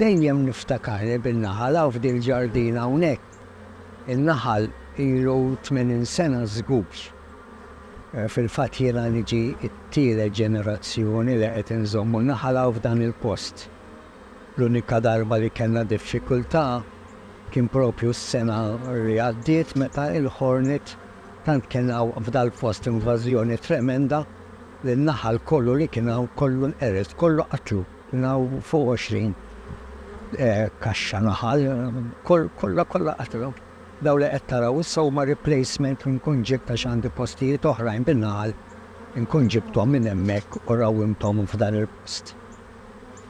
Dejjem niftakarni bin-naħal hawn f'din il-ġardina hawnhekk. In-naħal ilu tmenin sena żgur. Fil-fatt jiena niġi t-tielet ġenerazzjoni li qed inżommu n-naħal hawn f'dan il-post. L-unika darba li kellna diffikultà kien proprju s-sena li għaddiet meta l-ħornet tant kien hawn f'dal-post invażjoni tremenda li n-naħal kollu li kien hawn kollu nqered, kollu qatlu. Kien hawn fuq għoxrin kaxxa naħal, kollha kollha qatgħu. Dawn li qed taraw issa huma replacement li nkun ġibt għax għandi postijiet oħrajn bin-naħal, inkun ġibthom minn hemmhekk u rawwimthom f'dan il-post.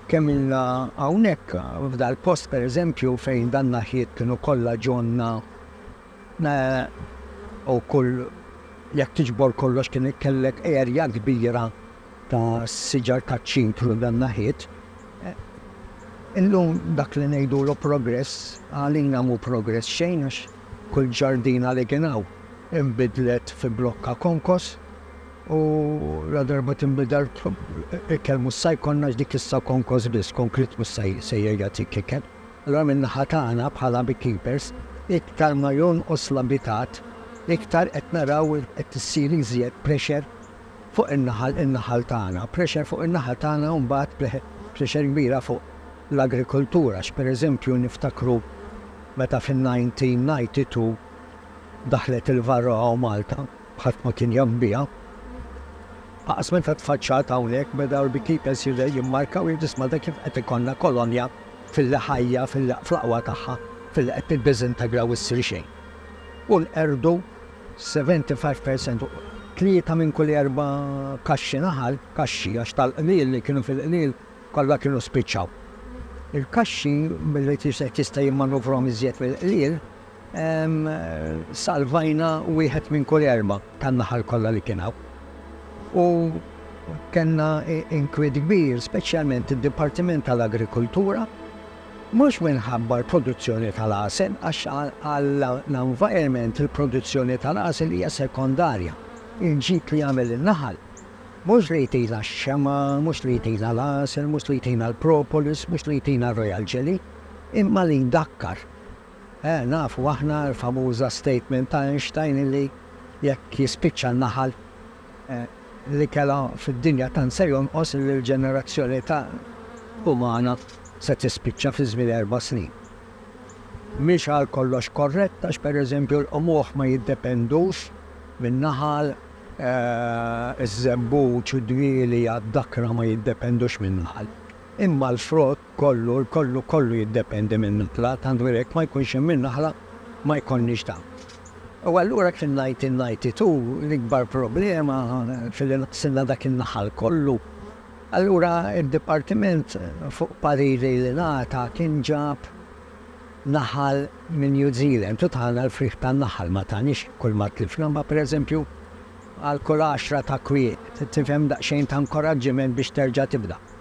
Kemm ilna hawnhekk, f'dal-post pereżempju fejn dan-naħjiet kienu kollha ġonna u kull, jekk tiġbor kollox kien kellek erja kbira. ta' siġar taċ-ċitru dan naħiet. Illum dak li ngħidulu progress għalina mhu progress xejn għax kull ġardina li kien hawn inbidlet fi blokka konkos u la darba tinbidel ikel mhux sa jkollna għax dik issa konkos biss, konkrit mhux se jerġa' jtik ikel. Allura min-naħa tagħna bħala beekeepers iktar ma jonqos l-abitat iktar qed naraw li qed issir iżjed pressure fuq in-naħal in-naħal tagħna, pressure fuq in-naħal tagħna u mbagħad pressure kbira fuq l-agrikoltura għax pereżempju niftakru meta fin-1992 daħlet il-varroa u Malta ħadd ma kien jaf biha, faqas meta tfaċċat hawnhekk beda l-beekeepers jimmarkaw jgħidu isma' da kif qed ikollna kolonja filli ħajja filli fl-aqwa tagħha filli qed tiddiżintegra u ssir xejn. U nqerdu 75 per cent, tlieta minn kull erba' kaxxi naħal, kaxxi għax tal-qliel li kienu fil-qliel kollha kienu spiċċaw. Il-kaxxi billi wieħed jista' jimmanuvrhom iżjed mill-qliel, salvajna wieħed minn kull erba' tan-naħal kollha li kien hawn. U kellna inkwiet kbir, speċjalment id-Dipartiment tal-Agrikultura Mhux minħabba l-produzzjoni tal-għasel għax għall-environment il-produzzjoni tal-għasel hija sekondarja. Il-ġid li jagħmel in-naħal mhux li jtina x-xemgħa, mhux li jtina l-għasel, mhux li jtina l-propolis, mhux li jtina r-royal jelly, imma li jdakkar. Eh, nafu aħna l-famuża statement ta' Einstein illi jekk jispiċċa n-naħal, li kellha fid-dinja tant se jonqos li l-ġenerazzjoni ta' umana se tispiċċa fi żmien erba' snin. Mhix għalkollox korrett għax pereżempju l-qmuħ ma jiddependux min-naħal, iż-żebbuġ, id-dwieli għad-dakra ma jiddependux min-naħal. Imma l-frott Kollu, kollu, kollu jiddependi min-naħla, tant veru jekk ma jkunx hemm in-naħla ma jkollniex dan. U allura kien ngħid in-ngħidti tu, l-ikbar problema fi li naqsilna dak in-naħal kollu. Allura d-dipartiment fuq pariri li ngħata kien ġab naħal minn New Zealand u tana l-frieħ tan-naħal, ma taniex kull ma tlifna imma pereżempju għal kull għaxra ta' kwiet, tifhem daqsxejn ta' inkoraġġiment biex terġa' tibda.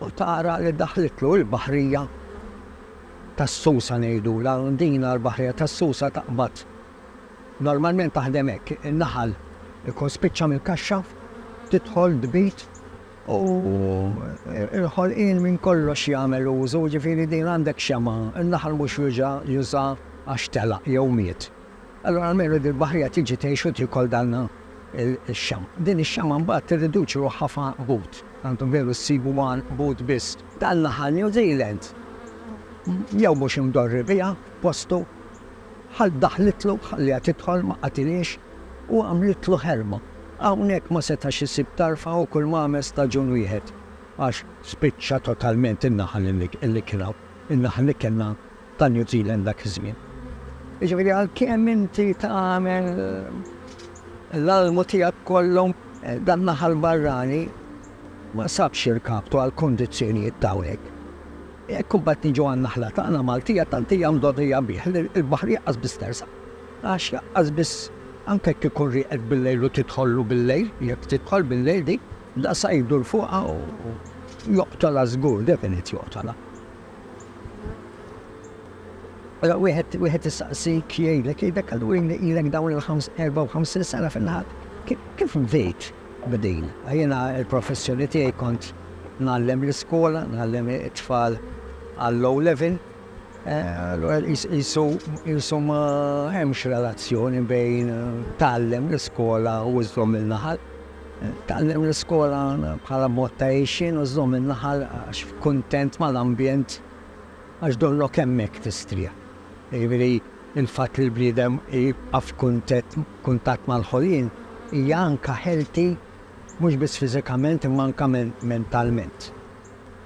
U tara li daħlitlu l-baħrija tas-Susa ngħidulha, din l-baħrija tas-Susa taqbad. Normalment taħdem hekk, in-naħal ikun spiċċa mill-kaxxa, tidħol tbid u l-ħolqien minn kollox jagħmel użu, jiġifieri din għandek xemgħa, in-naħal mhux juża għax telaq jew miet. Allura almenu din il-baħrija tiġi tgħix u tiekol dan ix-xama. Din ix-xama mbagħad tirriduċi ruħha f'għanqbut. Għandkom veru ssibu għanqbut biss. Dan l-aħħar New Zealand jew mhux imdorri biha postu, ħall daħlitlu, ħalliha tidħol, ma qatilhiex u għamlitlu ħerma. Hawnhekk ma setax isib tarfa u kulma għamel staġun wieħed għax spiċċa totalment in-naħal li kien hawn. In-naħal li kellna ta' New Zealand dak iż-żmien. Jiġifieri għalkemm inti tagħmel l-almu tiegħek kollu, dan naħal barrani ma sabx irkaptu għall-kundizzjonijiet ta' hawnhekk. Jekk imbagħad niġu għan-naħla tagħna Maltija tant hija mdorrija bih li l-baħar jaqqas biss tersaq. Għax jaqqas biss anke jekk ikun rieqek bil-lejl u tidħollu bil-lejl, jekk tidħol bil-lejl dik, daqshekk jdur fuqha u joqtolha żgur, definit joqtolha. Ara wieħed wieħed issaqsik jgħidlek jgħidlek għal win ilek dawn il-ħams 54 sena fil-ħadd. Kif bdejt b'din? Jiena l-professjoni tiegħi kont ngħallem l-iskola, ngħallem it-tfal għall-low level. Allura qisu ma hemmx relazzjoni bejn tgħallem l-iskola u żżomm il-naħal. Tgħallem l-iskola bħala mod ta' għixien u żżomm in-naħal għax kuntent mal-ambjent għax dollok hemmhekk tistrieħ. Jiġifieri l-fatt li l-bniedem jibqa' f'kuntatt mal-ħolqien hija anke healthy mhux biss fiżikament imma anke mentalment.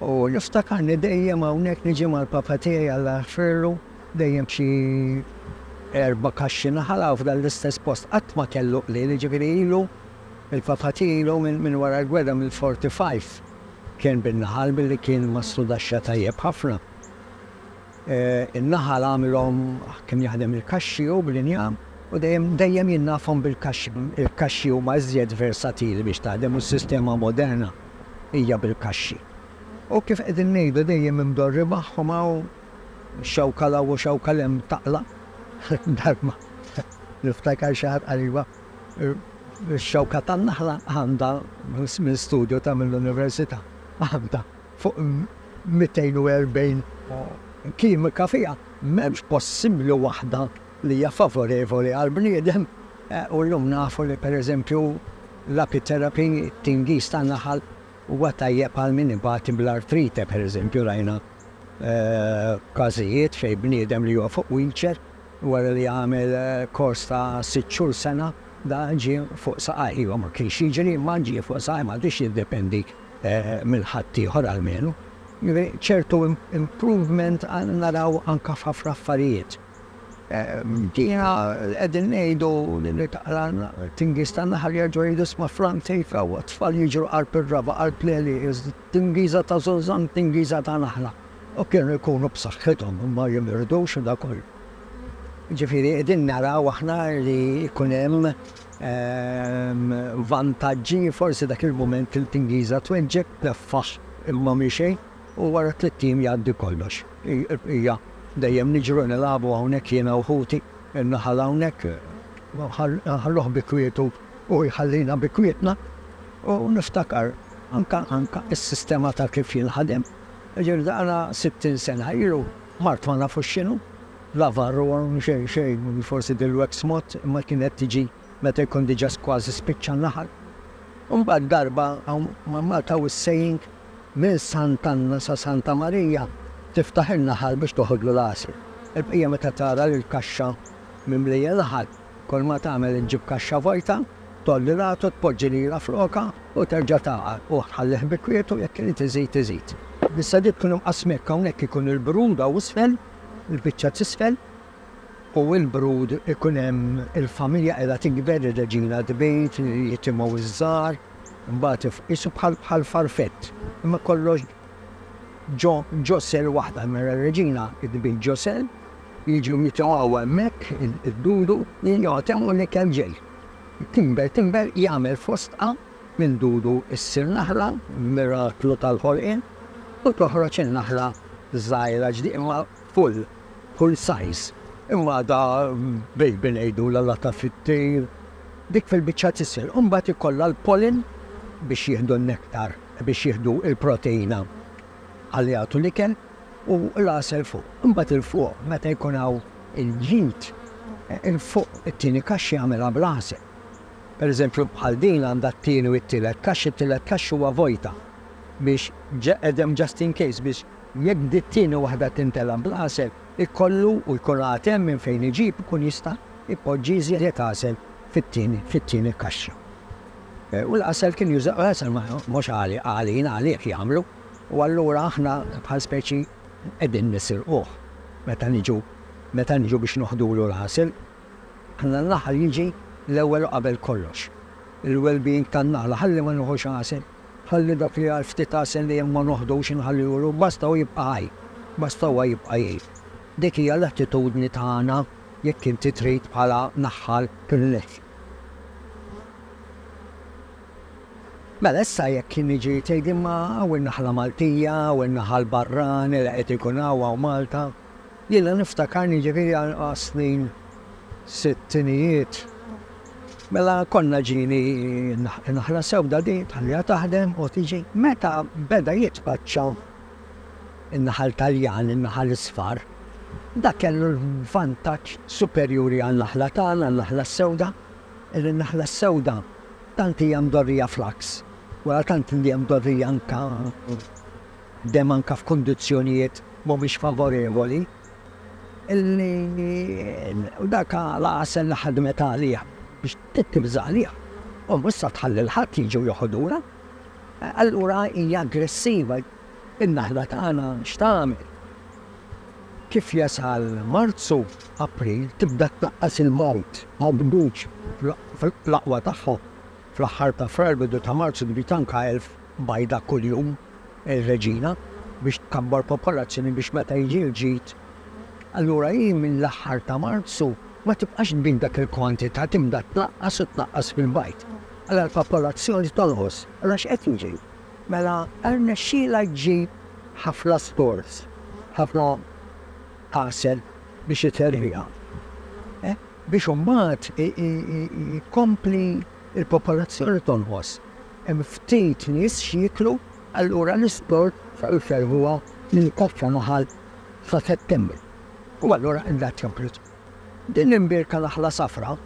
U niftakarni dejjem hawnhekk niġi mal-papa tiegħi Alla jaħfirlu dejjem b'xi erba' kaxxi naħal hawn f'dan l-istess post. Qatt ma kellu qliel jiġifieri ilu Il-Papat ilu minn wara l-gwerra mill-'45 kien bin-naħal billi kien ma studaxxa tajjeb ħafna. In-naħal għamilhom kien jaħdem il-kaxxi hu bl-injam u dejjem dejjem jien nafhom bil-kaxxi. Il-kaxxi huma iżjed versatili biex taħdem u s-sistema moderna hija bil-kaxxi. U kif qegħdin ngħidu dejjem imdorri magħhom hawn xewka 'l hawn u xewka 'l hemm taqla'. Darba niftakar xi ħadd qal iva. Ix-xewka tan-naħla għandha, minn studju ta' mill-Università, għandha fuq 240 kimika fiha, m'hemmx possibbli waħda li hija favorevoli għall-bniedem u llum nafu li pereżempju l-apitherapy, it-tingiż tan-naħal, huwa tajjeb għal min ibati bl-artrite pereżempju rajna każijiet fejn bniedem li huwa fuq wheelchair, Wara li għamel kors ta' sitt xhur, sena, dan ġie fuq saqajh. Iva, ma kienx jiġri, imma ġie fuq saqajh. M'għadux jiddependi minn ħaddieħor almenu. Jiġifieri ċertu improvement naraw anke f'ħafna affarijiet. Bdejna qegħdin ngħidu li taqra Tingiż tan-Naħal jerġgħu jgħidu isma' Frank tgħid, 'Ewwa, t-tfal jiġru qalb ir-raba', qalb l-għelieq, Tingiża ta' żożan, tingiża ta' naħla. U kienu jkunu b'saħħithom u ma jimirdux u dak kollu. Jiġifieri qegħdin naraw aħna li jkun hemm vantaġġi, forsi dak il-mument il-tingiża tweġġeb, tneffaħ imma mhi xejn u wara tlitt ijiem jgħaddi kollox. Hija dejjem niġru nilagħbu hawnhekk jiena u ħuti, in-naħal hawnhekk nħalluh bi kwietu u jħallina bi kwietna. U niftakar anka anka s-sistema ta' kif jien ħadimt. Jiġifieri daqna sittin sena ilu, mart ma nafux x'inhu, la varroa u xejn xejn, forsi dil-wax mod, imma kienet tiġi meta jkun diġà kważi spiċċa n-naħal. U mbagħad darba hawn ma' Malta hawn is-saying, minn Sant'Anna sa Santa Marija tiftaħ in-naħal biex toħodlu l-għasel. Il-bqija meta tara li l-kaxxa mimlija naħal, Kull ma tagħmel iġġib kaxxa vojta, tgħolli l-għatu, tpoġġi lira flokha u terġa' tagħqar u tħallih bi kwietu, jekk irid iżid iżid. Bis-sadiet kienu mqassmi hekk, hawnhekk ikun il-brud hawn isfel, il-biċċa t'isfel, u l-brud ikun hemm il-familja qiegħda tikber, ir-reġina tbid, jitimgħu ż-żgħar, imbagħad qisu bħal farfett, imma kollox ġo ġo sell waħda, mela r-reġina tbid ġo sell, Jiġu jitogħu hemmhekk id-dudu li jagħtew u l-ikel ġej. Timber timber jagħmel fostqa minn dudu ssir naħla, miraklu tal-ħolqien, u toħroġ in-naħla żgħira ġdieqma full kull size. Imgħadha baby ngħidulha lata fit-tir. Dik fil-biċċa t'isfel imbagħad ikollha l-pollen biex jieħdu n-nektar, biex jieħdu l-proteina ħalli jagħtu l-ikel u l-għasel fuq. Imbagħad 'il fuq meta jkun hawn il-ġid, 'il fuq it-tieni kaxxi jagħmilha bl-għasel. Pereżempju bħal din għandha t-tieni u t-tielet kaxxi, it-tielet kaxxi huwa vojta biex għedem just in case biex jekk di t-tieni waħda tintela' bl-għasel ikollu u jkun għad hemm minn fejn iġib ikun jista' jpoġġi iżjed għasel fit-tieni fit-tieni kaxxa. U l-għasel kien juża, l-għasel mhux għali, għalina, għalih jagħmlu, u allura aħna bħal speċi qegħdin nisirquh meta niġu, meta niġu biex noħdulu l-għasel. Aħna l-aħħar jiġi l-ewwel u qabel kollox. Il-well-being tan-naħla, ħalli ma nieħux għasel, ħalli dak li għal ftit għasel li hemm ma noħdux inħallihulu, basta hu jibqa' ħaj, basta huwa jibqa' jgħix. Dik hija l-attitudni tagħna jekk inti trid bħala naħħal tilleħħi. Mela issa jekk jien niġi tgħid imma hawn in-naħla Maltija, hawn in-naħa l-barrani li qed ikun hawn, hawn Malta. Jiena niftakarni jiġifieri għas-snin sittinijiet mela konna ġieni n-naħla sewda din tħalliha taħdem u tiġi. Meta beda jitpaċċa in-naħal Taljan, in-naħal isfar, dak kellu l-vantaġġ superjuri għan-naħla tagħna, n-naħla s-sewda, li n-naħla s-sewda tant hija mdorrija fl-għaks, wara tant li hija mdorrija anke dehmm anke f'kundizzjonijiet mhumiex favorevoli, li dak l-għasel li ħadmet għalih biex tibża' għalih, hu issa tħalli l-ħadd jiġi u joħodulha. Allura hija aggressiva. In-naħla tagħna x'tagħmel? Kif jasal Marzu, April tibda tnaqqas il-mewt. Għawdux fl-aqwa tagħha. Fl-aħħar ta' Frar, bidu ta' Marzu tbid anke elf bajda kuljum ir-reġina biex tkabbar popolazzjoni biex meta jiġi l-ġid. Allura hi mill-aħħar ta' Marzu ma tibqax tbid dak il-kwantità tibda tnaqqas u tnaqqas fil-bajd. Mela l-popolazzjoni tonqos. Mela x'qed jiġri? Mela rnexxielha ġġib ħafna stores, ħafna għasel biex iterriha. Biex imbagħad tkompli l-popolazzjoni tonqos. Hemm ftit nies x'jieklu, allura l-isport iferrħuha lil Kaffa Naħal sa Settembru. U allura qed tkompli. Din l-imbierka naħla safra,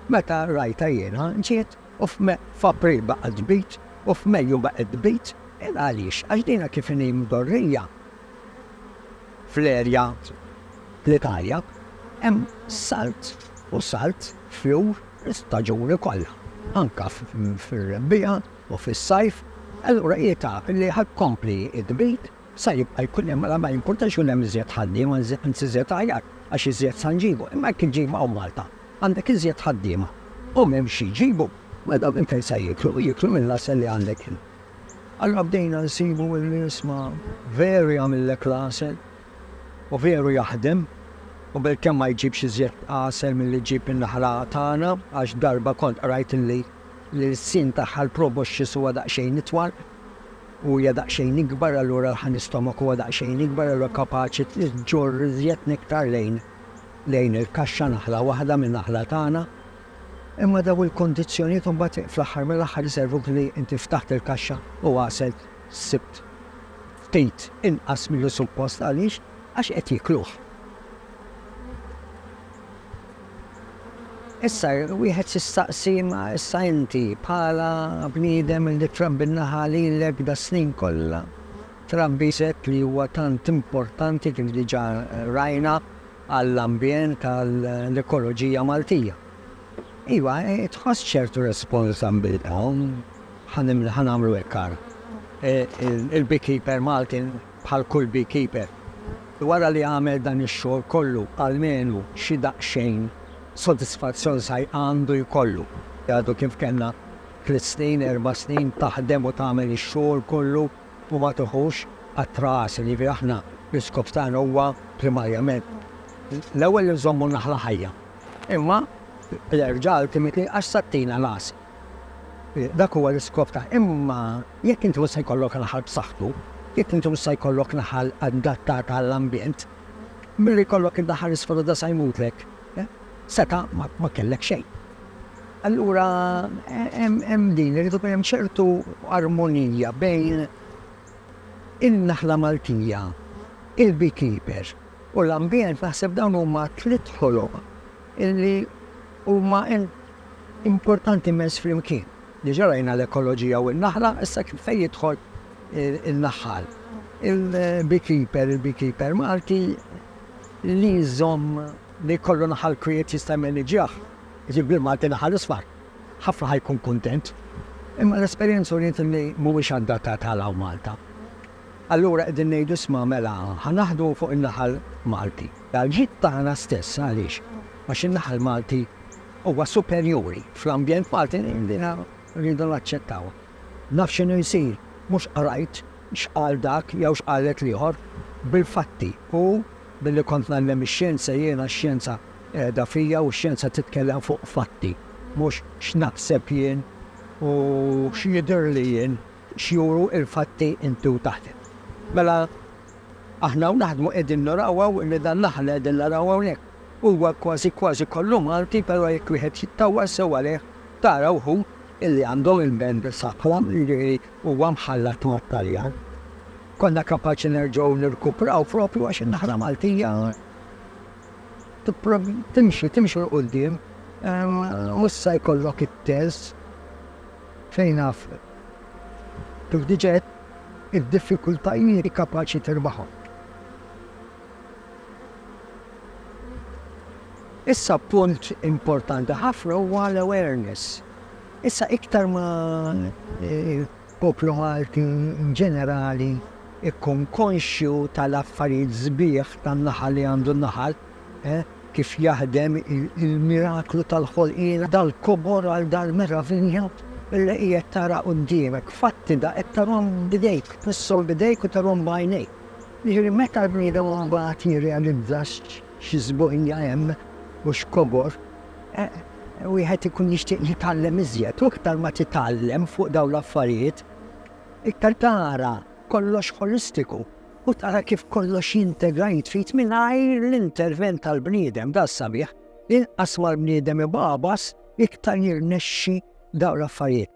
meta rajtha jiena, ġiet u f'April baqgħet tbid u f'Mejju baqgħet tbid. Illa għaliex? Għax dinha kif inhi mdorrija fl-erja fl-Italja, hemm salt u salt fjur l-istaġuni kollha, anke fir-rebbiegħa u fis-sajf, allura hi taf li ħa tkompli tbid. Sa jibqa' jkun hemm, mela ma jimpurtax ikun hemm iżjed ħaddiema, anzi iżjed aħjar, għax iżjed sa nġibu. Imma jekk iġġib hawn Malta, għandek iżjed ħaddiema u m'hemmx xi jġibu, mela minn fejn se jieklu? Jieklu mill-għasel li għandek int. Allura bdejna nsibu li isma' veru jagħmillek l-għasel u veru jaħdem u bilkemm ma jġibx iżjed għasel milli ġġib in-naħla tagħna, għax darba kont qrajt li l-ilsien tagħha l-proboscis huwa daqsxejn itwal u hija daqsxejn ikbar allura l-ħan istomak huwa daqsxejn ikbar allura kapaċi ġġorr iżjed nektar lejn lejn il-kaxxa naħla waħda min-naħla tagħna. Imma dawn il-kondizzjonijiet imbagħad fl-aħħar mill-aħħar iservuk li inti ftaħt il-kaxxa u għasel sibt ftit inqas milli suppost għaliex għax qed jikluh. Issa, wieħed jistaqsi, imma issa inti, bħala bniedem li trabbi n-naħa lilek das-snin kollha, trabbi żett li huwa tant importanti, kif diġà rajna, għall-ambjent, għall-ekoloġija Maltija. Iva, tħoss ċertu responsabbiltà, ħa nagħmlu hekk ara, il-beekeeper Malti, bħal kull beekeeper, wara li għamel dan ix-xogħol kollu almenu xi daqsxejn sodisfazzjon sajr għandu jkollu. Għadu kif kellna tliet snin, erba' snin taħdem u tagħmel ix-xogħol kollu u ma tiħux qatra għasel. Jiġifieri aħna l-iskop tagħna huwa primarjament l-ewwel li nżommu n-naħla ħajja, imma l-erġal timiti għax se ttina l-għasel. Dak huwa l-iskop ta' Imma jekk inti mhux se jkollok naħal b'saħħtu, jekk inti mhux se jkollok naħal adattata għall-ambjent, milli jkollok in-naħal isfel u da se jmutlek, seta' ma kellek xejn. Allura hemm din, irid ikun hemm ċertu armonija bejn in-naħla Maltija, il-beekeeper u l-ambjent, naħseb dawn huma tliet ħoloq illi huma importanti immens flimkien. Diġà rajna l-ekoloġija u n-naħla, issa fejn jidħol in-naħħal? Il-beekeeper, il-beekeeper Malti li jżomm li jkollu naħal kwiet jista' jmaniġġjah, jiġifieri bil-Malti naħal isfar, ħafna ħa jkun kuntent. Imma l-esperjenza uriet illi mhuwiex adattat għal hawn Malta. Allura qegħdin ngħidu isma' mela ħa naħdmu fuq in-naħal Malti. Għall-ġid tagħna stess għaliex? Għax in-naħal Malti huwa superjuri fl-ambjent Malti din rridu naċċettawha. Naf x'inhu jsir, mhux qrajt x'qal dak jew x'qalet l-ieħor, bil-fatti. U billi kont ngħallem ix-xjenza jiena x-xjenza qiegħda fija u x-xjenza titkellem fuq fatti mhux x'naħseb jien u x'jidhirli jien. X'juru l-fatti inti u taħdem? Mela aħna hawn naħdmu qegħdin naraw hawn li dan l-aħħar li qegħdin naraw hawnhekk huwa kważi kważi kollu Malti però jekk wieħed jittawwal sew għalih tara wħud illi għandhom il-band Safra jiġifieri huwa mħallat mat-Taljan. Konna kapaċi nerġgħu nirkupraw proprju għax in-naħra Maltija timxi timxi 'l quddiem u issa jkollok it-telz. fejn af kif diġa għedt id-diffikultajiet kapaċi tirbahom. Issa punt importanti ħafna huwa l-awareness. Issa iktar ma poplu Malti in ġenerali jkun konxju tal-affarijiet sbieħ tan-naħal li għandu n-naħal, kif jaħdem il-miraklu tal-ħolqien, dal-kobor għal dal-meravilja li qiegħed tara quddiemek, fatti da qed tarahom b'idejk, tmisshom b'idejk u tarahom b'għajnejk. Jiġifieri meta l-bniedem imbagħad jirrealizza xi sbuħija hemm u x'kobor, wieħed ikun jixtieq jitgħallem iżjed u iktar ma titgħallem fuq dawn l-affarijiet, iktar tara kollox ħolistiku. u tara kif kollox jintegra jitfit mingħajr l-intervent tal-bniedem, da sabiħ, inqas ma l-bniedem ibabas iktar jirnexxi dawn l-affarijiet.